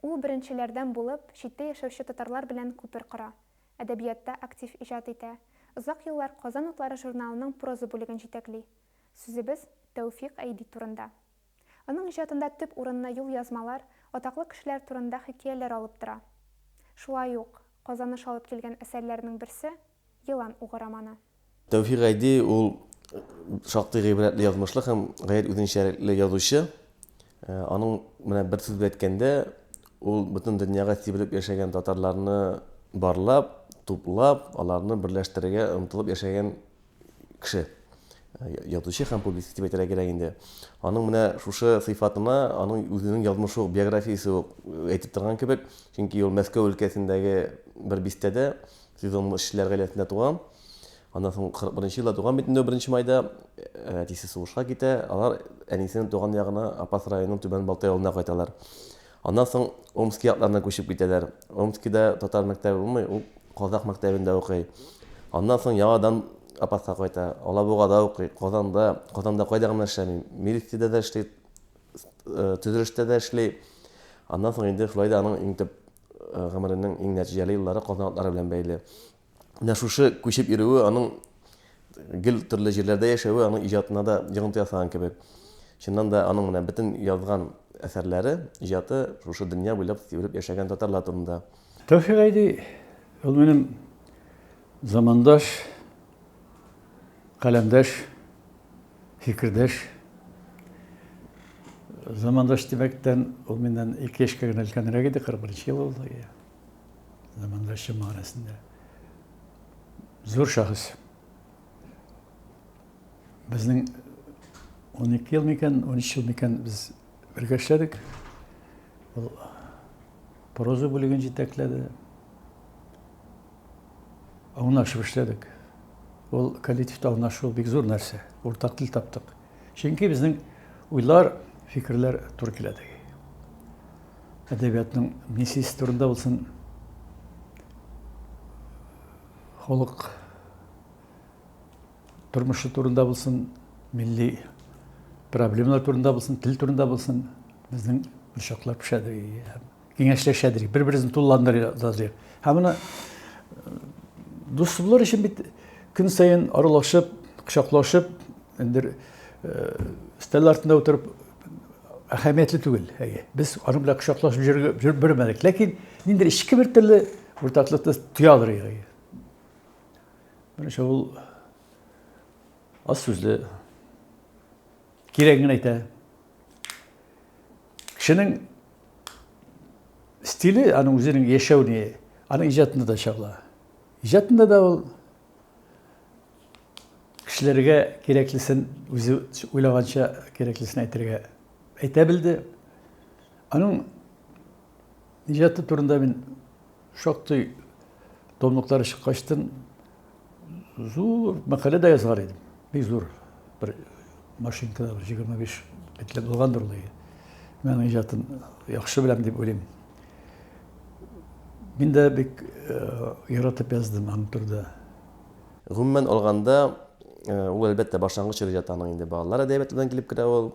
Ул беренчеләрдән булып читтә яшәүче татарлар белән күпер кора, әдәбиятта актив иҗат итә, озак еллар Казан утлары журналының проза бүлеген җитәкли. Сүзебез Тәүфикъ Әйби турында. Аның иҗатында төп урынны юлъязмалар, атаклы кешеләр турында хикәяләр алып тора. Шулай ук Казаныш алып килгән әсәрләренең берсе, Елан угы романы. Тәүфик Гайди ул шактый гыйбрәтле язмышлы һәм гаять үзенчәлекле язучы. Аның менә бер сүз белән әйткәндә, ул бөтен дөньяга сибелеп яшәгән татарларны барлап, туплап, аларны берләштерергә омтылып яшәгән кеше. Язучы һәм публицист дип әйтергә кирәк инде. Аның менә шушы сыйфатына аның үзенең язмышы ук, биографиясе ук әйтеп торган кебек, чөнки ул Мәскәү өлкәсендәге бер бистәдә Сез аның эшчеләр гаиләсендә туа. Аннан соң 41 елда туган бит инде беренче майда. Әтисе сугышка китә. Алар әнисенең туган ягына Апас районының Түбән Балтай авылына кайталар. Аннан соң Омски якларына күчеп китәләр. Омскида татар мәктәбе булмый, ул казах мәктәбендә укый. Аннан соң яңадан Апаска кайта. Алабугада укый, Казанда, Казанда кайда гына эшләми. Милициядә дә эшли, төзелештә дә эшли. Аннан соң инде шулай да аның иң төп гомеренең иң нәтиҗәле еллары Казан атлары белән бәйле. Менә шушы күчеп йөрүе, аның гел төрле җирләрдә яшәве аның иҗатына да йогынты ясаган кебек. Чыннан да, аның менә бөтен язган әсәрләре, иҗаты шушы дөнья буйлап сибелеп яшәгән татарлар турында. Тәүфик Гайди, ул минем замандаш, каләмдәш. Фикердәш, замандаш димәктән, ул миннән ике яшькә генә өлкәнрәк иде, 41 ел ул, замандаш чын мәгънәсендә. Зур шәхес. Безнең 12 ел микән, 13 ел микән без бергә эшләдек. Ул проза бүлеген җитәкләде. Аңлашып эшләдек. Ул коллективта аңлашу бик зур нәрсә. Уртак тел таптык. Чөнки безнең уйлар, фикерләр туры килә теге. Әдәбиятның миссиясе турында булсын, халык тормышы турында булсын, милли проблемалар турында булсын, тел турында булсын, безнең очаклар пешә киңәшләшәдер, бер-берсен тулыландырырдыр. Һәм моны дуслар өчен бит көн саен аралашып, кочаклашып, эндер стел артында утырып әһәмиятле түгел. Әйе, без аны белән кочаклашып йөреп бирмәдек, ләкин нинди эчке бер төрле уртаклыкны тоялыр иде. Менә шул аз сүзле Кирәген генә әйтә. Кешенең стиле аның үзенең яшәү не, аның иҗатында да чагыла. Иҗатында да ул кешеләргә кирәклесен үзе уйлаганча кирәклесен әйтергә әйтә белде. Аның иҗаты турында мин Шактый томлыклары чыккачтын, зур мәкалә дә язгар идем. Бик зур бер машинкада бер 25 битләп булгандыр ул. Мен иҗатын яхшы беләм дип уйлыйм. Мин дә бик яратып яздым аның турында. Гомумән алганда, ул әлбәттә башлангыч иҗат аның инде балалар әдәбияты белән килеп керә ул,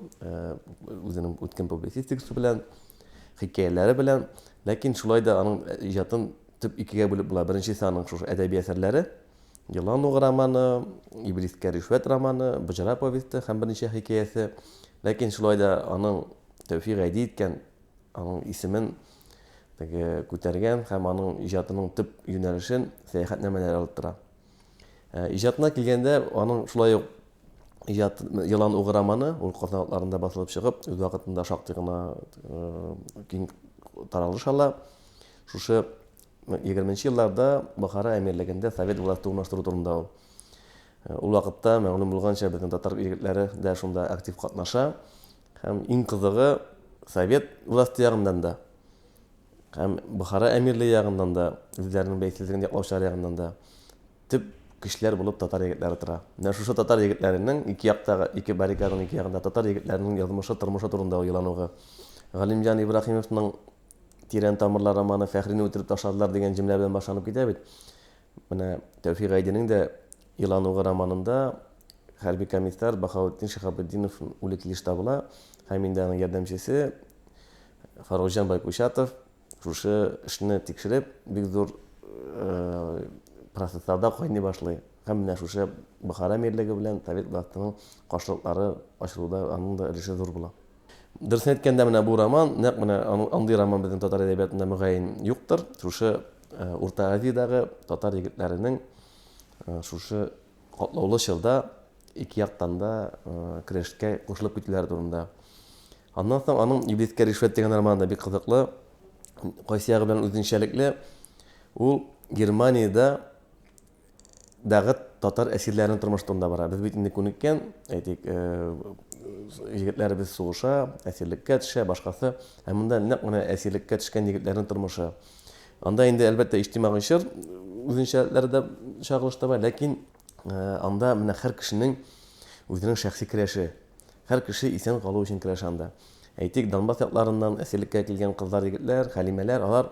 үзенең үткен публицистикасы белән. хикәяләре белән. Ләкин шулай да аның э, иҗатын төп икегә бүлеп була. Беренчесе аның шушы әдәби әсәрләре, Елан угы романы, Иблискә ришвәт романы, Боҗра повесте һәм берничә хикәясе. Ләкин шулай да аның Тәүфик Гайди иткән аның исемен теге күтәргән һәм аның иҗатының төп юнәлешен сәяхәтнамәләр алып тора. Ә, иҗатына килгәндә, аның шулай ук иҗат елан угы романы, ул Казан атларында басылып чыгып, үз вакытында шактый гына э, киң таралыш ала. Шушы 20 елларда Бохара әмирлегендә совет власты урнаштыру турында ул. Э, ул вакытта мәгълүм булганча безнең татар егетләре дә шунда актив катнаша. Һәм иң кызыгы совет власты ягыннан да Һәм Бохара әмирлеге ягыннан да, үзләренең бәйсезлеген яклаучылар ягыннан да төп көчләр булып татар егетләре тора. Менә шушы татар егетләренең ике яктагы, ике баррикаданың ике ягында татар егетләренең язмышы, тормышы турында уйлануы. Галимҗан Ибраһимовның Тирән тамырлар романы Фәхрине үтереп ташладылар дигән җөмлә белән башланып китә бит. Менә Тәүфик Гайдинең дә Иланугы романында хәрби комиссар Бахаутдин Шихабетдинов үле килеш табыла һәм инде аның ярдәмчесе Фарукҗан Байкучатов шушы эшне тикшереп, бик зур процессларда кайный башлый. Һәм менә шушы Бохара мирлеге белән совет властының каршылыклары ачылуда аның да өлеше зур була. Дөресен әйткәндә, менә бу роман, нәкъ менә андый роман безнең татар әдәбиятында мөгаен юктыр. Шушы Урта Азиядәге татар егетләренең шушы Катлаулы чорда ике яктан да көрәшкә кушылып китүләре турында. Аннан соң аның Иблискә ришвәт дигән романы да бик кызыклы. Кайсы ягы белән үзенчәлекле, ул Германиядә дагы татар әсирләренең тормышы турында бара. Без бит инде күнеккән, әйтик, егетләребез сугыша, әсирлеккә төшә, башкасы. Ә монда нәкъ менә әсирлеккә төшкән егетләрнең тормышы. Анда инде, әлбәттә, иҗтимагый чор үзенчәлекләре дә чагылыш таба, ләкин анда менә һәр кешенең үзенең шәхси керәше. Һәр кеше исән калу өчен керәшә анда. Әйтик, Донбасс якларыннан әсирлеккә килгән кызлар, егетләр, хәлимәләр, алар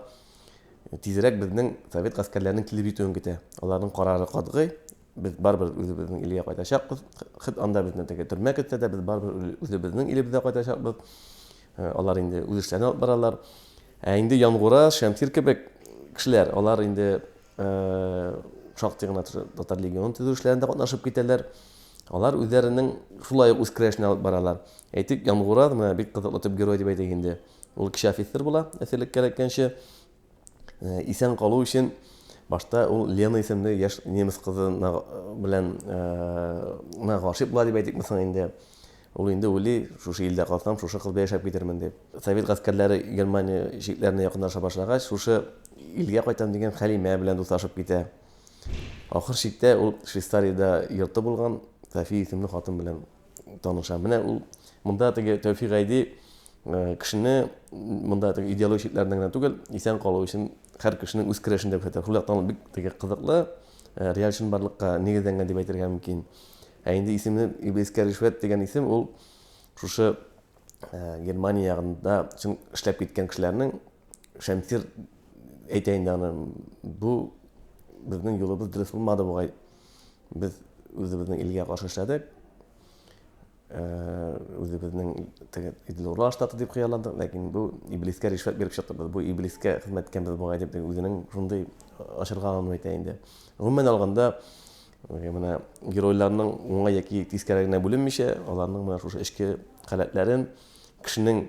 тизрәк безнең совет гаскәрләренең килеп җитүен көтә. Аларның карары катгый, без барыбер үзебезнең илгә кайтачакбыз. Хет анда безне теге төрмә көтсә дә, без барыбер үзебезнең илебезгә кайтачакбыз. Алар инде үз эшләрен алып баралар. Ә инде Янгура, Шәмсир кебек кешеләр, алар инде шактый гына татар легионын төзү эшләрендә катнашып китәләр. Алар үзләренең шулай ук үз керәшенә алып баралар. Әйтик, Янгура, менә бик кызыклы төп герой дип әйтик инде. Ул кече офицер була, әсирлек кәрәккәнче. Э, исән калу өчен башта ул лена исемле яшь немец кызы белән э, гашыйк була дип әйтикме соң инде ул инде уйлый шушы илдә калсам шушы кыз белән яшәп китермен дип совет гаскәрләре германия чикләренә якынлаша башлагач шушы илгә кайтам дигән хәлимә белән дуслашып китә ахыр чиктә ул швейцариядә йорты булган софия исемле хатын белән таныша. Менә ул монда теге Тәүфик Гайди э, кешене монда теге идеологик чикләрдән генә түгел, исән калу өчен һәр кешенең үз керәшен дип әйтә. Хулак тану бик теге кызыклы, э, реаль чынбарлыкка нигезләнгән дип әйтергә мөмкин. Ә инде исемне Иблискә ришвәт дигән исем ул шушы э, Германия ягында чын эшләп киткән кешеләрнең Шәмсир әйтә инде аны. Бу безнең юлыбыз дөрес булмады бугай. Без үзебезнең илгә каршы эшләдек. Э, үзебезнең теге Идлурлар штаты дип хыялландык, ләкин бу иблискә ришвәт биреп чыктыбыз. Бу иблискә хезмәт иткәнбез бугай дип үзенең шундый ачырганын әйтә инде. Гомумән алганда, менә геройларның уңай яки тискәрегенә бүленмичә, аларның менә шушы эчке халәтләрен, кешенең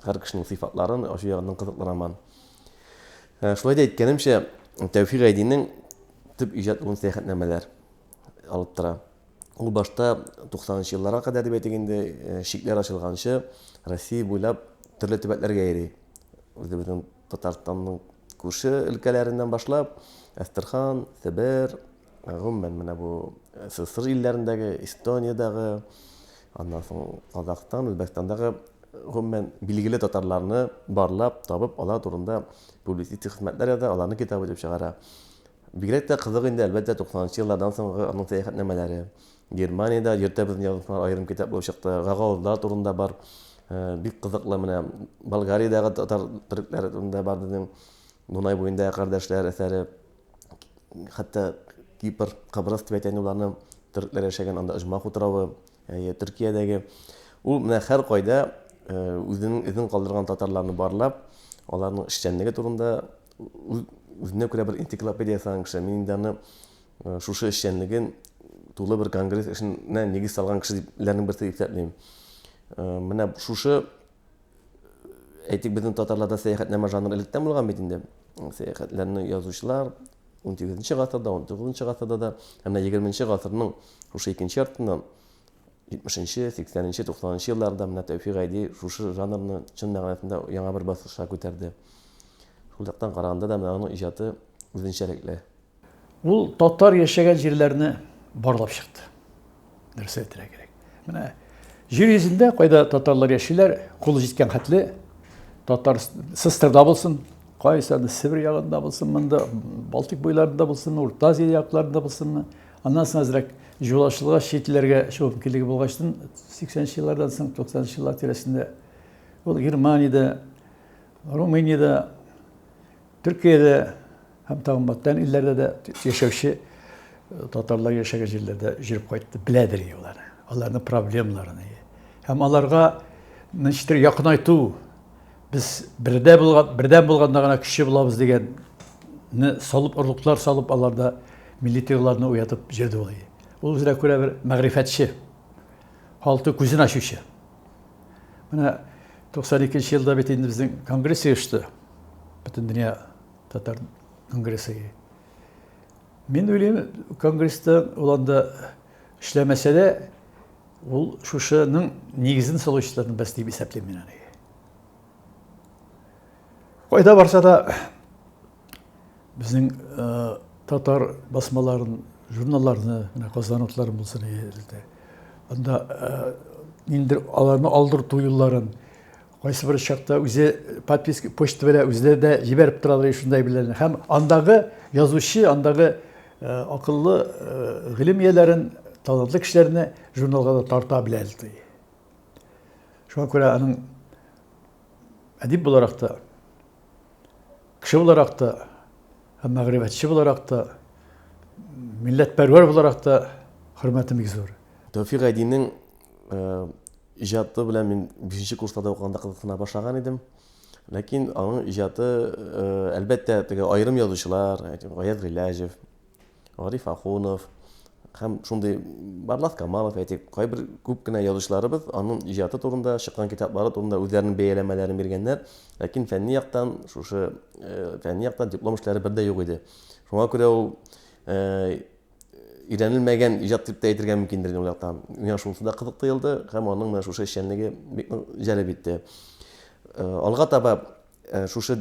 Һәр кешенең сыйфатларын ачу ягыннан кызыкланаман. Э, шулай да әйткәнемчә, Тәүфик Гайдинең төп иҗат улын сәяхәтнамәләр алып тора. Ул башта 90-нчы елларга кадәр дип әйтик инде, э, чикләр ачылганчы Россия буйлап төрле төбәкләргә йөри. Үзебезнең Татарстанның күрше өлкәләреннән башлап, Әстерхан, Себер, гомумән менә бу СССР илләрендәге, Эстониядәге, аннан соң Казахстан, Үзбәкстандагы гомумән билгеле татарларны барлап, табып, алар турында публицистик хезмәтләр яза, аларны китап итеп чыгара. Бигрәк тә кызык инде, әлбәттә, 90 нчы еллардан соңгы аның сәяхәтнамәләре. Германиядә йөртәбезнең язмышлары аерым китап булып чыкты. Гагаузлар турында бар. Э, бик кызыклы менә Болгариядәге татар төрекләре турында бар безнең Дунай буенда кардәшләр әсәре. Хәтта Кипр, Кабрыс дип әйтә уларны төрекләр яшәгән анда Оҗмах утравы, әйе, Төркиядәге. Ул менә һәр кайда э, үзенең эзен калдырган татарларны барлап, аларның эшчәнлеге турында үзенә күрә бер энциклопедия ясаган кеше. Мин инде аны Шушы эшчәнлеген тулы бер конгресс эшенә нигез салган кешеләрнең берсе дип исәплим. Менә шушы әйтик безнең татарларда сәяхәтнамә жанры электән булган бит инде. Сәяхәтләрне язучылар 18-нче гасырда, 19-нчы гасырда да, һәм 20-нче гасырның шушы икенче яртыннан 70-нче, 80-нче, 90-нчы елларда менә Тәүфик Гайди шушы жанрны чын мәгънәсендә яңа бер баскычка күтәрде. Шул яктан караганда да менә аның иҗаты үзенчәлекле. Ул татар яшәгән җирләрне барлап чыкты. Нәрсә әйтергә кирәк? Менә җир йөзендә кайда татарлар яшиләр, кулы җиткән хәтле татар Сыстырда булсын, кайсы аны Себер ягында булсын, монда Балтик буйларында булсын, Урта Азия якларында булсын, аннан соң әзрәк җулашлыга читләргә чыгу мөмкинлеге булгачтын 80-нче еллардан соң 90-нчы еллар тирәсендә ул Германиядә, Румыниядә Төркиядә һәм тагын бүтән илләрдә дә яшәүче татарлар яшәгән җирләрдә җөреп кайтты, беләдер инде алар. Аларның проблемаларын. Һәм аларга ничектер якынайту, без бердә булган, бердәм булганда гына көчле булабыз дигән салып орлыклар салып аларда милли тойгыларны уятып җөрде ул. Ул үзенә күрә бер мәгърифәтче. Халты күзен ачучы. Менә 92 елда бит инде безнең конгресс оешты. Бөтен дөнья татар конгрессы. Мин уйлыйм, конгрессты ул анда эшләмәсә дә, ул шушының нигезен салучыларның берсе дип исәплим мин аны. Кайда барса да Безнең татар басмаларын, журналларны менә Казан утлары булсын иде. Анда инде аларны алдырту юлларын кайсы бер чакта үзе подписка почта белән үзләре дә җибәреп торалар шундай белән. Һәм андагы язучы, андагы акыллы гыйлем ияләрен, талантлы кешеләрне журналга да тарта белә ди. Шуңа күрә аның әдип буларак та Кеше буларак та, һәм мәгърифәтче буларак та, милләтпәрвәр буларак та хөрмәтем бик зур. Тәүфик Айдинның иҗаты белән мин бишенче курсларда укыганда кызыксына башлаган идем. Ләкин аның иҗаты, әлбәттә, теге аерым язучылар, Гаяз Гыйләҗев, Гариф Ахунов һәм шундый Барлас Камалов, әйтик, кайбер күп кенә язучыларыбыз аның иҗаты турында, чыккан китаплары турында үзләренең бәяләмәләрен биргәннәр, ләкин фәнни яктан шушы э, фәнни яктан диплом эшләре бер дә юк иде. Шуңа күрә ул э, өйрәнелмәгән иҗат дип тә әйтергә мөмкиндер ул яктан. Миңа шунысы да кызык тоелды һәм аның менә шушы эшчәнлеге бик җәлеп итте. Э, алга таба э, шушы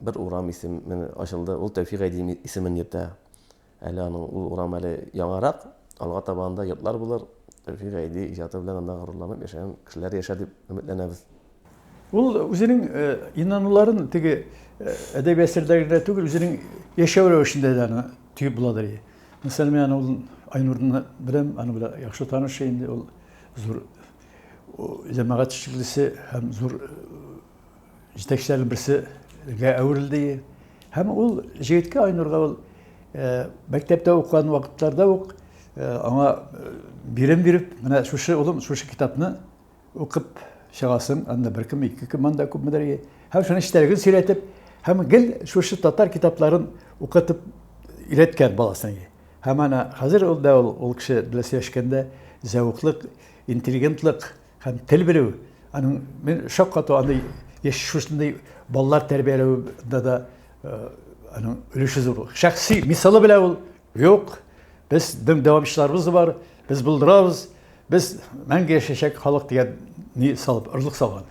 Бер урам исеме ачылды, ул Тәүфик Гайдиев исемен йөртә. Әле аның ул урам әле яңарак, алга таба анда йортлар булыр, Тәүфик Гайди иҗаты белән анда горурланып яшәгән кешеләр яшәр дип өметләнәбез. Ул үзенең инануларын теге әдәби әсәрләрдә генә түгел, үзенең яшәү рәвешендә дә аны тоеп буладыр. Мәсәлән, мин аны Айнурны беләм, аны белән яхшы таныш инде, ул зур җәмәгать эшлеклесе һәм зур җитәкчеләрнең берсегә әверелде. Һәм ул җегеткә Айнурга ул мәктәптә укыган вакытларда ук аңа бирем биреп, менә шушы улым, шушы китапны укып чыгасын, анда бер кем, ике кем анда күпмедер. Һәм шуның эчтәлеген сөйләтеп, һәм гел шушы татар китапларын укытып өйрәткән баласын. Һәм ана хәзер ул да ул кеше белән сөйләшкәндә зәвыклык, интеллигентлык Һәм тел белү, аның мен шаккату аны яшь шушындый балалар тәрбияләүдә дә аның өлеше зур. Шәхси мисалы белән ул юк, без дөм дәвамчыларыбыз бар, без булдырабыз, без мәңге яшәшәк халык дигән ни салып, орлык салган.